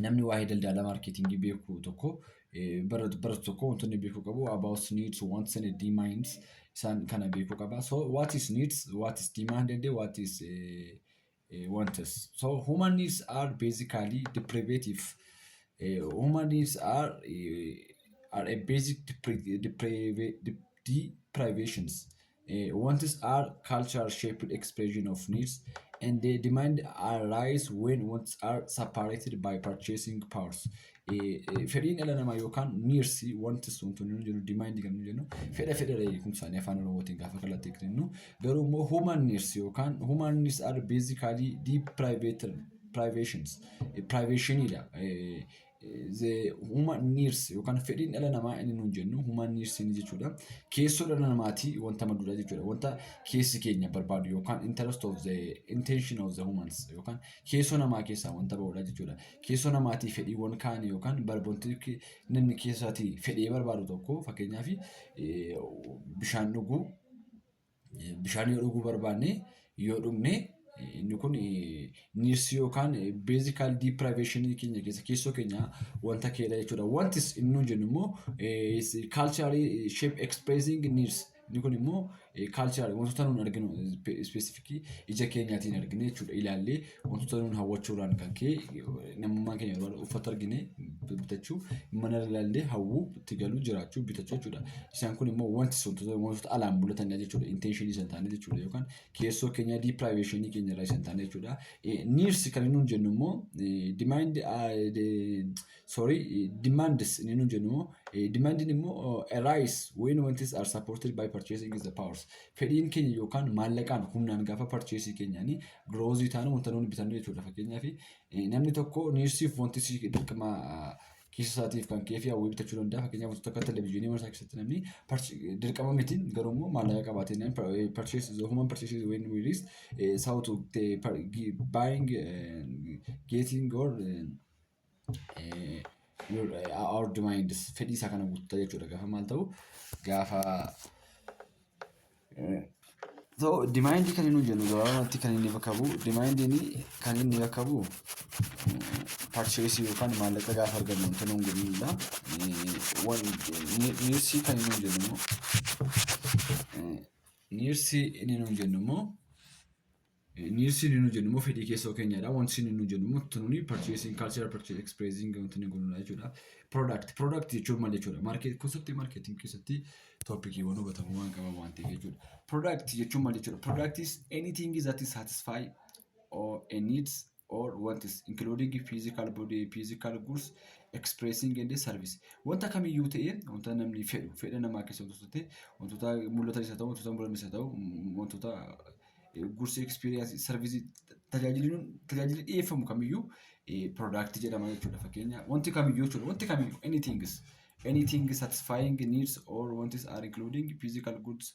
namni waa'ee daldala maarkeetingii beeku tokko baratu tokko wantoonni beekuu qabu about needs wants and demands isaan kana beekuu qaba so what is needs what is demanded what is eh, eh, wants so human needs are basically deprivative eh, human needs are eh, are a basic depri- depriva- dep- deprivations Uh, wants are cultural shaped expression of needs and the demand arise when wants are separated by purchasing powers. Uh, uh, fedhiin dhala namaa yookaan needs wanti sun tun nu jennu demand kan nu jennu fedha fedha dha jechuun isaanii afaan oromootiin gaafa kalatti kennu garuu immoo human needs yookaan human needs are basically deep private privations privationidha the human needs yookaan fedhiin dhala namaa inni nuun jennu human needs inni jechuudha. Keessoo dhala namaatii wanta madduudha jechuudha. Wanta keessi keenya barbaadu yookaan interest of the intention of the humans yookaan keessoo namaa keessaa wanta ba'uudha jechuudha. Keessoo namaatii fedhiiwwan kaan yookaan barboonti namni keessaatii fedhee barbaadu tokko fakkeenyaaf bishaan dhuguu Bishaan yoo dhuguu barbaanne yoo dhugne inni kun niirsii yookaan beezikaal diipiraayiveeshinii keenya keessa keessoo keenya wanta keedha jechuudha. Wantis inni nuun jennu immoo kaalchaarii sheep ekspreesiing niirs inni kun immoo kaalchaarii wantoota nuun arginu ispeesifikii ija keenyaatiin argine jechuudha ilaallee wantoota nuun hawwachuurraan kan ka'e namummaan keenya yeroo uffata argine bitachuu mana ilaallee hawwuu itti galuu jiraachuu bitachuu jechuudha. Isaan kun immoo wanti sun wantoota alaan mul'atanii jechuudha. Intention isaan taane jechuudha yookaan keessoo keenya deprivation keenya irraa isaan taane jechuudha. Needs kan nuun jennu immoo demand sorry demands inni nu jennu demandiin immoo arise when wantis are supported by purchasing is the powers fedhiin keenya yookaan maallaqaan humnaan gaafa purchasing keenyaanii grows taanu wanta nuun bitannu jechuudha fakkeenyaaf namni tokko niirsiif wanti si dirqama keessa isaatiif kan kee fi hawwii bitachuu danda'a fakkeenyaaf wantoota akka televezyiinii mana isaa keessatti namni dirqama miti garuu immoo maallaqa qabaatee namni purchase human purchase when we reach south buying getting or our demands fedhii isaa kana guuttata jechuudha gaafa maal ta'u gaafa so demand kan inni jennu gabaabumatti kan inni bakka bu'u demand inni kan inni bakka bu'u purchase yookaan maallaqa gaafa argannu wanta nuun godhudha niirsii kan inni jennu immoo niirsii inni nuun jennu immoo Nielsen inni jennu immoo fedhii keessoo keenyadha. Wanti isin inni jennu immoo tununi purchasing culture purchase expressing wanti inni godhudha jechuudha. Product product jechuun maal jechuudha? Market keessatti marketing keessatti toppikiiwwan hubatamu waan qaban waan ta'eef jechuudha. Product jechuun maal jechuudha? Product is anything that is satisfy or a needs or wants including physical body physical goods expressing and service wanta kamiyyuu ta'ee wanta namni fedhu fedha namaa keessa wantoota ta'e wantoota mul'atan isa ta'u wantoota mul'atan isa ta'u mm, wantoota goods experience service tajaajilli nun- tajaajilli dhiyeeffamu kamiyyuu product jedhama jechuudha fakkeenya wanti kamiyyuu jechuudha wanti kamiyyuu anything is anything satisfying needs or wants are including physical goods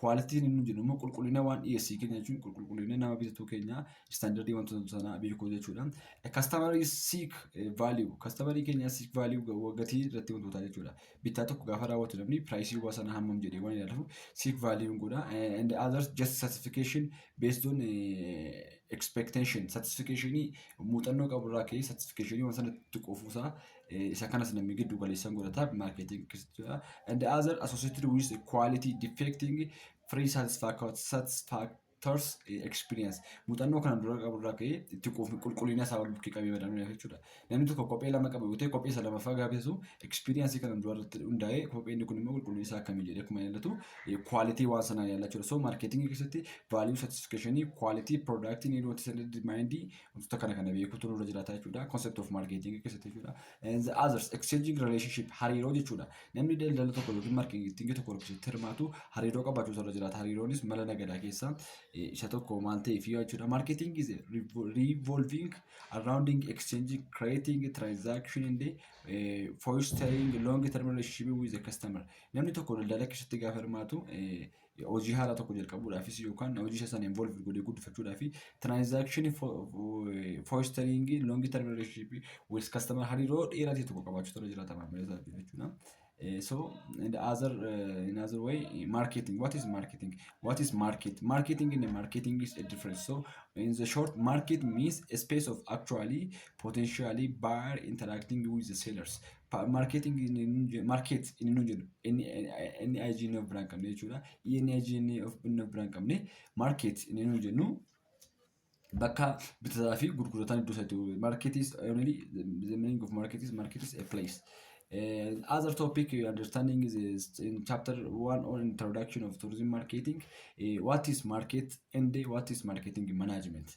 Kwaalitiin inni jennu immoo qulqullina waan dhiyeessii keenya jechuun qulqullina nama bitatu keenya istaandardii wantoota sanaa beekuu jechuudha. Kastamarii siik vaaliyuu kastamarii keenya siik vaaliyuu gatii irratti hundoota jechuudha. Bittaa tokko gaafa raawwatu namni piraayisii waa sana hammam jedhee waan ilaaluuf siik vaaliyuun godha. And others just satisfaction based on expectation satisfactionii muuxannoo qabu irraa ka'ee satisfactionii waan sanatti quufuusaa Eh, isa kanas namni giddu galeessan godhata marketing kistudha and other associated with quality defecting free satisfac- satisfactors eh, experience muuxannoo kana dura qabu irraa ka'ee itti quufni qulqullina isaa wal bukkee qabee madaaluu danda'a jechuudha namni tokko kophee lama qabu yoo ta'e kophee isa lamaffaa gaaffisu experience kana dura irratti hundaa'ee kophee inni kun immoo qulqullinni isaa akkamii jedhee akkuma ilaallatu quality waan sanaa ilaallachudha so marketing keessatti value satisfaction quality product need what is determined wantoota kana kana beekuutu nurra jiraata jechuudha. Concept of marketing keessatti jechuudha. And the others exchanging relationship hariiroo jechuudha. Namni daldala tokko yookiin marketing tokko keessatti hirmaatu hariiroo qabaachuutu irra jiraata. Hariiroonis mala nagadaa keessaa eh, isa tokko maal ta'eef yoo jechuudha. Marketing is revo- revolving around exchanging, creating transaction and eh, fostering long term relationship with the customer. Namni tokko daldala keessatti gaafa hirmaatu eh, hojii haaraa tokko jalqabuudhaafis yookaan hojii isa sana involve godhee guddifachuudhaaf tiraansaakshinii fooistariingii loongi term relationship with customer hariiroo dheeraa ta'e tokko qabaachuu tola jiraata maamila isaa wajjin jechuudha. Eh, So in the other uh, in other way, marketing. What is marketing? What is market? Marketing and marketing is a difference. So in the short, market means a space of actually potentially buyer interacting with the sellers. Markeeting markeet inni nu jedhu NIG inni of biraan qabne jechuudha. ENIG inni of biraan qabne markeet inni nu jennu bakka bitataa fi gurgurataan iddoo isaatti market is only the meaning of market is market is a place. Uh, other topic uh, understanding is, is in chapter one on introduction of tourism marketing. Uh, what is market and what is marketing management?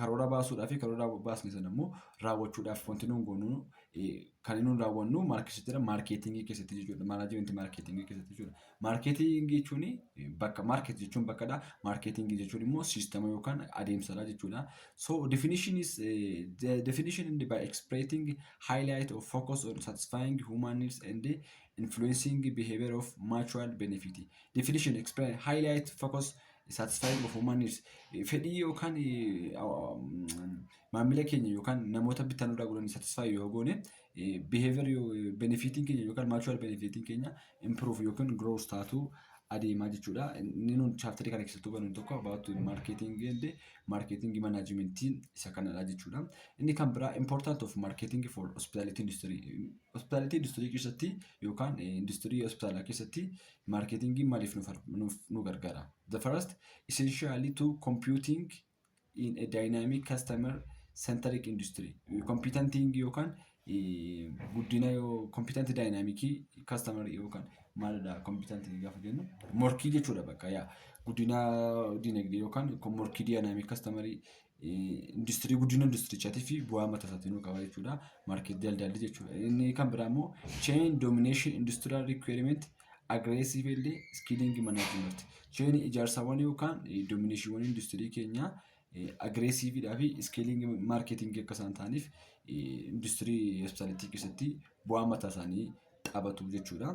Karoora baasuudhaa fi karoora baasne sana immoo raawwachuudhaaf wanti nuun goonu kan nuun raawwannu maal keessattidha? Maarkeetingii keessatti jechuudha. Maanaajimenti maarkeetingii keessatti jechuudha. Maarkeetingii jechuun bakka maarkeet jechuun bakkadha. Maarkeetingii jechuun immoo siistama yookaan adeemsadha jechuudha. So definition is eh, the definition and by expressing highlight of focus on satisfying human needs and influencing behavior of mutual benefit. Definition explain highlight focus satisfying of human needs fedhii yookaan maamila keenya yookaan namoota bittaa nurraa godhan satisfy yoo goone behavior benefitiin keenya yookaan mutual benefitiin keenya improve yookaan growth taatu adeemaa jechuudha. Inni nuti chaaptarii kana keessatti hubannu tokko about marketing and marketing management isa kanadha jechuudha. Inni kan biraa important of marketing for hospitality industry. Hospitality industry keessatti yookaan industry hospitaalaa keessatti Maarkeetingiin maaliif nu, far- nuuf nu gargaara? The first essentially to computing in a dynamic customer centric industry. Competenting yookaan eh, guddina yoo competent dynamic customer yookaan maalidha competent gaafa jennu morkii jechuudha bakka yaa guddina dinagdee yookaan ko- morkii dynamic customer industirii guddina industirichaatii fi bu'aa mataa isaatiin nu qaba jechuudha. Maarkeet daldalli jechuudha. Inni kan biraa immoo chain domination industrial requirement aggressive illee skilling management. Chain ijaarsawwan yookaan dominatiiwwan industirii keenyaa aggressive dhaa fi skilling marketing akka isaan ta'aniif industirii hospitaalittii keessatti bu'aa mataa isaanii taphatu jechuudha.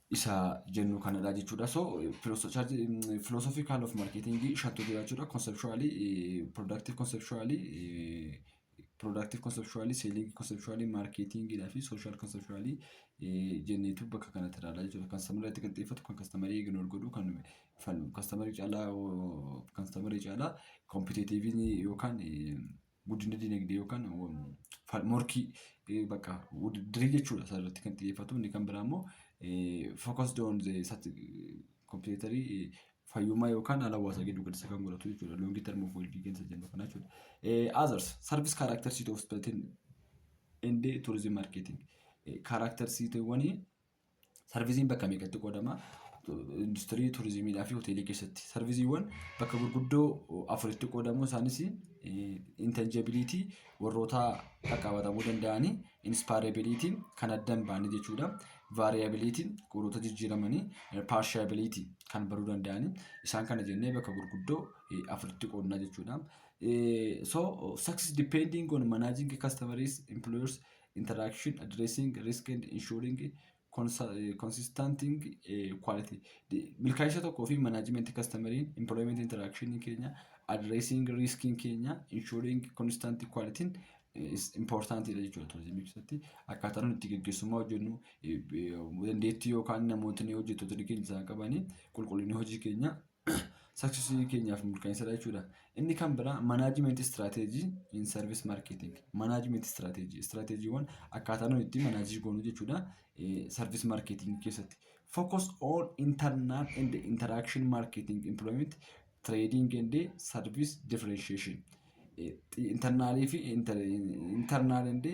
isa jennu kanadha jechuudha. So philosophical of marketing shantu jira jechuudha. Conceptually, productive conceptually, productive conceptually, selling conceptually, marketing dha fi social conceptually jenneetu bakka kanatti ilaala jechuudha. Customer irratti kan xiyyeeffatu, kan customer ignore godhu, kan falmu, customer caalaa customer caalaa competitive yookaan guddina dinagdee yookaan morkii bakka dirii jechuudha isaa irratti kan xiyyeeffatu inni kan biraa immoo focused on the complementary fayyummaa yookaan haala hawaasaa gidduu galeessa kan godhatu jechuudha long term of well being isa jennu kana jechuudha. Others service characteristics of hospitality and tourism marketing characteristics Sarviziin bakka meeqatti qoodama? Industirii, turizimiidhaa fi hoteelii keessatti. Sarviziiwwan bakka gurguddoo afuritti qoodamu isaanis intanjabiliitii warroota qaqqabatamuu danda'anii, inspaarebiliitiin kan adda hin baane jechuudha. Vaariyabiliitiin warroota jijjiiramanii, paarshiyabiliitii kan baruu danda'anii isaan kana jennee bakka gurguddoo afuritti qoodna jechuudha. So success depending on managing customers, employers interaction, addressing, risk and ensuring consa- eh, consisting eh, quality. Di- Milkaa'insa tokkoo fi management customeriin employment interaction keenya addressing risk keenya ensuring constant quality eh, is important dha jechuudha turizimii keessatti akkaataa nuti itti gaggeessummaa hojjennu eh, eh, dandeettii yookaan namootni hojjettootni keenya isaan qabanii qulqullinni hojii keenya saksesii keenyaaf mirkaneessadha jechuudha. Inni kan biraa manaajimentii istiraateejii in sarvis maarkeeting. Manaajimentii istiraateejii istiraateejiiwwan akkaataa nuyi itti manaajii goonu jechuudha. Sarvis maarkeeting keessatti. Focus on internal and interaction marketing employment trading and service differentiation. Internaalii fi internal and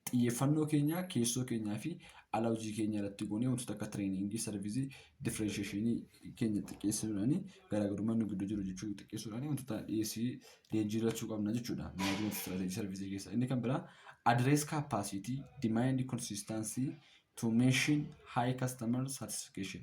Xiyyeeffannoo keenya keessoo keenyaa fi ala hojii keenya irratti goonee wantoota akka tireeningii, sarvizii, differensheeshinii keenya xiqqeessuudhaan garaagarummaa nu gidduu jiru jechuu xiqqeessuudhaan wantoota dhiyeessii leenjii irratti qabna jechuudha. Management strategy sarvizii keessa. Inni kan biraa address capacity, demand consistency to mention high customer satisfaction.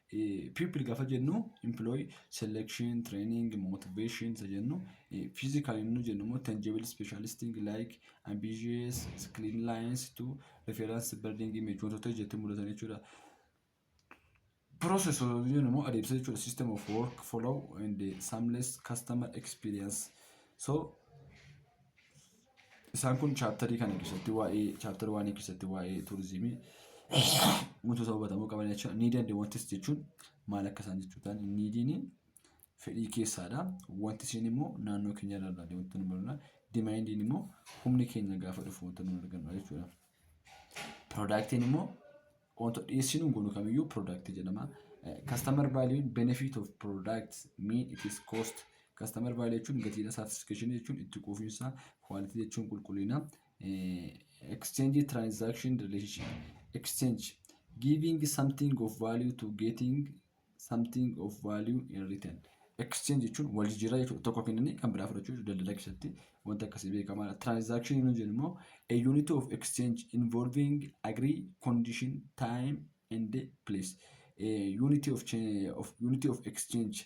Pupil gaafa jennu employ selection training motivation isa jennu physical inni jennu immoo tangible specialistic like ambitious clean lines to reference building image wantoota ijatti mul'atan jechuudha. Process jennu immoo adeemsa jechuudha system of work follow and seamless customer experience so Isaan kun chaaptarii kana keessatti waa'ee chaaptara waanii keessatti waa'ee tuurizimii wantoota hubatamuu qaban jechuudha. Niidii and wantis jechuun maal akka isaan jechuu ta'an niidiin fedhii keessaadha. Wanti isiin immoo naannoo keenya irraa ilaalee wanti nu barna. Dimaandiin immoo humni keenya gaafa dhufu wanti nu argannu jechuudha. Piroodaaktiin immoo wanta dhiyeessii nuun goonu kamiyyuu product jedhama. Eh, Customer value benefit of products mean it is cost. Customer value jechuun gatiidha, satisfaction jechuun itti quufinsa, quality jechuun qulqullina, eh, exchange transaction relationship, exchange giving something of value to getting something of value in return. Exchange jechuun wal jijjiirraa jechuudha. Tokko kennanii kan biraa fudhachuu jechuudha. Daldala keessatti wanta akkasii beekamaadha. Transaction yoo jennu immoo a unit of exchange involving agree condition time and place. Eh, Unity of, cha- of, unity of exchange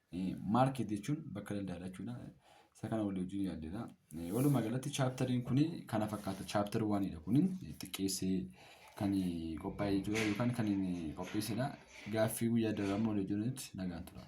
Market jechuun bakka daldaalaa jechuudha. Isa kana walii wajjin yaaddeedha. Walumaa galatti chaaptariin kun kana fakkaata. Chaaptar waanidha kun xiqqeessee kan qophaa'e jechuudha yookaan kan qopheessedha. Gaaffii guyyaa daraamu walii wajjin nagaan tura.